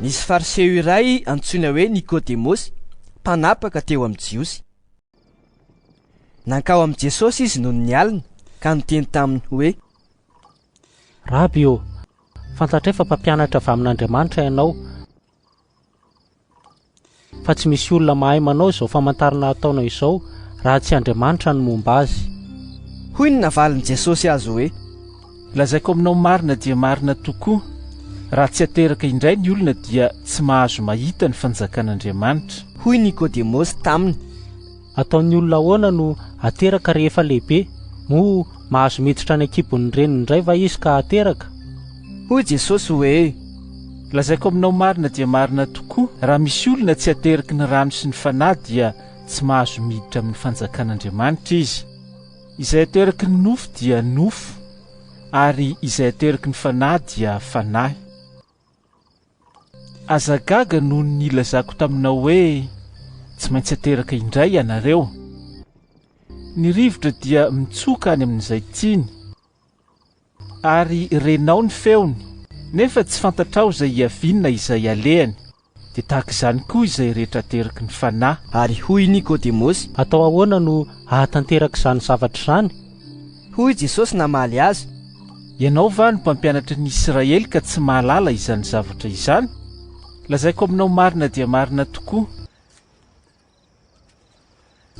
Nisy Fariseo iray antsoina hoe Nikodemosy, mpanapaka teo amin'ny Jiosy. Nankao amin'i Jesosy izy noho ny alina, ka niteny taminy hoe, Raby ô, fantatray fa mpampianatra avy amin'Andriamanitra ianao, fa tsy misy olona mahay manao izao famantarana ataonao izao raha tsy Andriamanitra no momba azy. Hoy ny navalin'i Jesosy azy hoe. Lazaiko aminao marina dia marina tokoa, raha tsy ateraka indray ny olona dia tsy mahazo mahita ny fanjakan'Andriamanitra. Hoy Nikodemosy taminy. Ataon'ny olona ahoana no ateraka rehefa lehibe? Moa mahazo miditra any an-kibon'ny reniny indray va izy ka ateraka? Hoy Jesosy hoe, Lazaiko aminao marina dia marina tokoa, raha misy olona tsy ateraky ny rano sy ny Fanahy dia tsy mahazo miditra amin'ny fanjakan'Andriamanitra izy. Izay ateraky ny nofo dia nofo, ary izay ateraky ny Fanahy dia fanahy. Aza gaga noho ny nilazako taminao hoe tsy maintsy ateraka indray ianareo. Ny rivotra dia mitsoka any amin'izay tiany, ary renao ny feony, nefa tsy fantatrao izay hiaviany na izay halehany, dia tahaka izany koa izay rehetra ateraky ny Fanahy. Ary hoy Nikodemosy. Atao ahoana no hahatanteraka izany zavatra izany? Hoy Jesosy namaly azy. Ianao va no mpampianatry ny Isiraely ka tsy mahalala izany zavatra izany? Lazaiko aminao marina dia marina tokoa,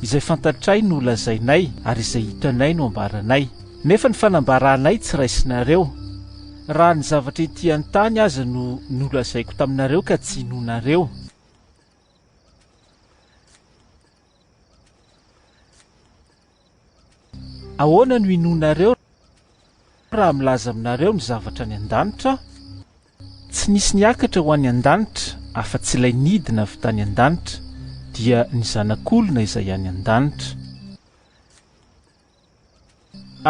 Izay fantatray no lazainay, ary izay hitanay no ambaranay, nefa ny fanambaranay tsy raisinareo. Raha ny zavatra ety an-tany aza no nolazaiko taminareo ka tsy inoanareo, Ahoana no hinoanareo raha milaza aminareo ny zavatra any an-danitra aho? Tsy nisy niakatra ho any an-danitra afa-tsy ilay nidina avy tany an-danitra, dia ny Zanak'olona izay any an-danitra.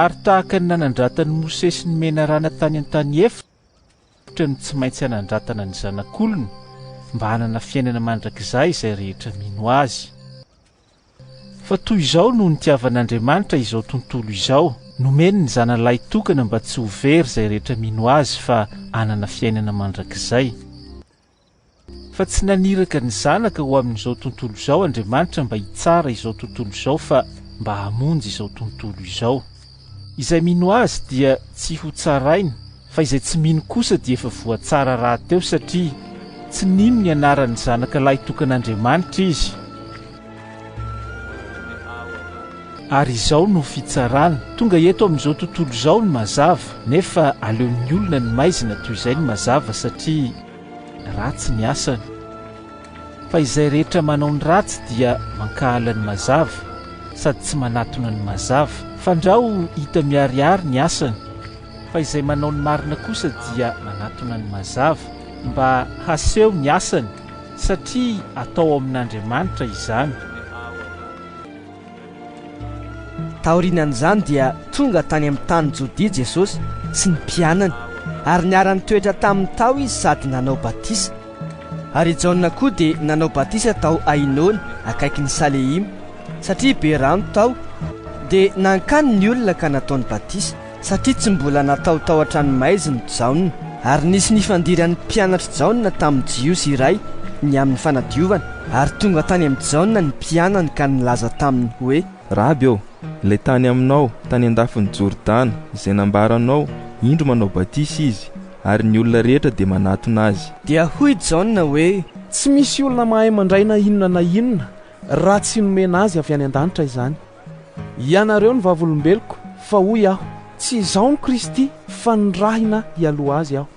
Ary tahaka ny nanandratan'i Mosesy ny menarana tany an-tany efitra no tsy maintsy hanandratana ny Zanak'olona, mba hanana fiainana mandrakizay izay rehetra mino azy. Fa toy izao no nitiavan'Andriamanitra izao tontolo izao, nomeny ny Zanany Lahitokana mba tsy ho very izay rehetra mino Azy fa hanana fiainana mandrakizay. Fa tsy naniraka ny Zanaka ho amin'izao tontolo izao Andriamanitra mba hitsara izao tontolo izao fa mba hamonjy izao tontolo izao. Izay mino Azy dia tsy ho tsaraina, fa izay tsy mino kosa dia efa voatsara rahateo, satria tsy nino ny anaran'ny Zanaka lahitokan'Andriamanitra izy. Ary izao no fitsarana, tonga eto amin'izao tontolo izao ny mazava, nefa aleon'ny olona ny maizina toy izay ny mazava, satria ratsy ny asany. Fa izay rehetra manao ny ratsy dia mankahala ny mazava, sady tsy manatona ny mazava. Fandrao hita miharihary ny asany. Fa izay manao ny marina kosa dia manatona ny mazava, mba haseho ny asany, satria atao ao amin'Andriamanitra izany. Taorian'izany dia tonga tany amin'ny tany Jodia Jesosy sy ny mpianany, ary niara-nitoetra taminy tao izy sady nanao batisa. Ary i Jaona koa dia nanao batisa tao Ainona akaikin'i Salehima, satria be rano tao, dia nankany ny olona ka nataony batisa. Satria tsy mbola natao tao an-tranomaizina i Jaona, ary nisy nifandiran'ny mpianatr'i Jaona tamin'ny Jiosy iray ny amin'ny fanadiovana, ary tonga tany amin'i Jaona ny mpianany ka nilaza taminy hoe. Raby ô, ilay tany aminao tany an-dafin'i Jordana, izay nambaranao, indro manao batisa izy, ary ny olona rehetra dia manatona azy. Dia hoy i Jaona hoe. Tsy misy olona mahay mandray na inona na inona raha tsy nomena azy avy any an-danitra izany. Ianareo no vavolombeloko, fa hoy aho, tsy izaho no Kristy, fa nirahina hialoha azy aho.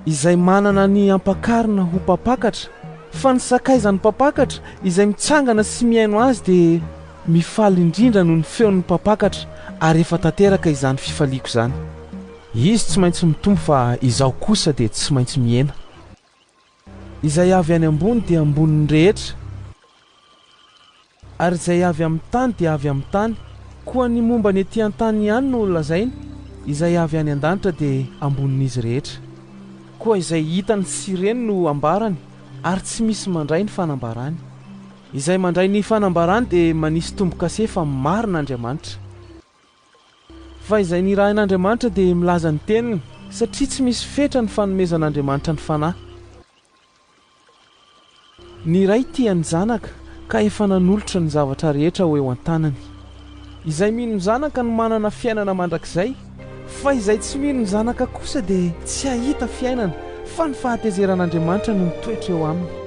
Izay manana ny hampakarina ho mpampakatra, fa ny sakaizan'ny mpampakatra, izay mitsangana sy mihaino azy dia mifaly indrindra noho ny feon'ny mpampakatra, ary efa tanteraka izany fifaliako izany. Izy tsy maintsy mitombo fa izaho kosa dia tsy maintsy mihena. Izay avy any ambony dia ambonin'ny rehetra, ary izay avy amin'ny tany dia avy amin'ny tany. Koa ny momba ny ety an-tany ihany no lazainy, Izay avy any an-danitra dia ambonin'izy rehetra. Koa izay hitany sy reny no ambarany, ary tsy misy mandray ny fanambarany. Izay mandray ny fanambarany dia manisy tombo-kase fa marina Andriamanitra. Fa izay nirahin'Andriamanitra dia milaza ny teniny, satria tsy misy fetra ny fanomezan'Andriamanitra ny fanahy. Ny Ray tia ny Zanaka, ka efa nanolotra ny zavatra rehetra ho eo an-tanany. Izay mino ny Zanaka no manana fiainana mandrakizay, fa izay tsy mino ny Zanaka kosa dia tsy hahita fiainana, fa ny fahatezeran'Andriamanitra no mitoetra eo aminy.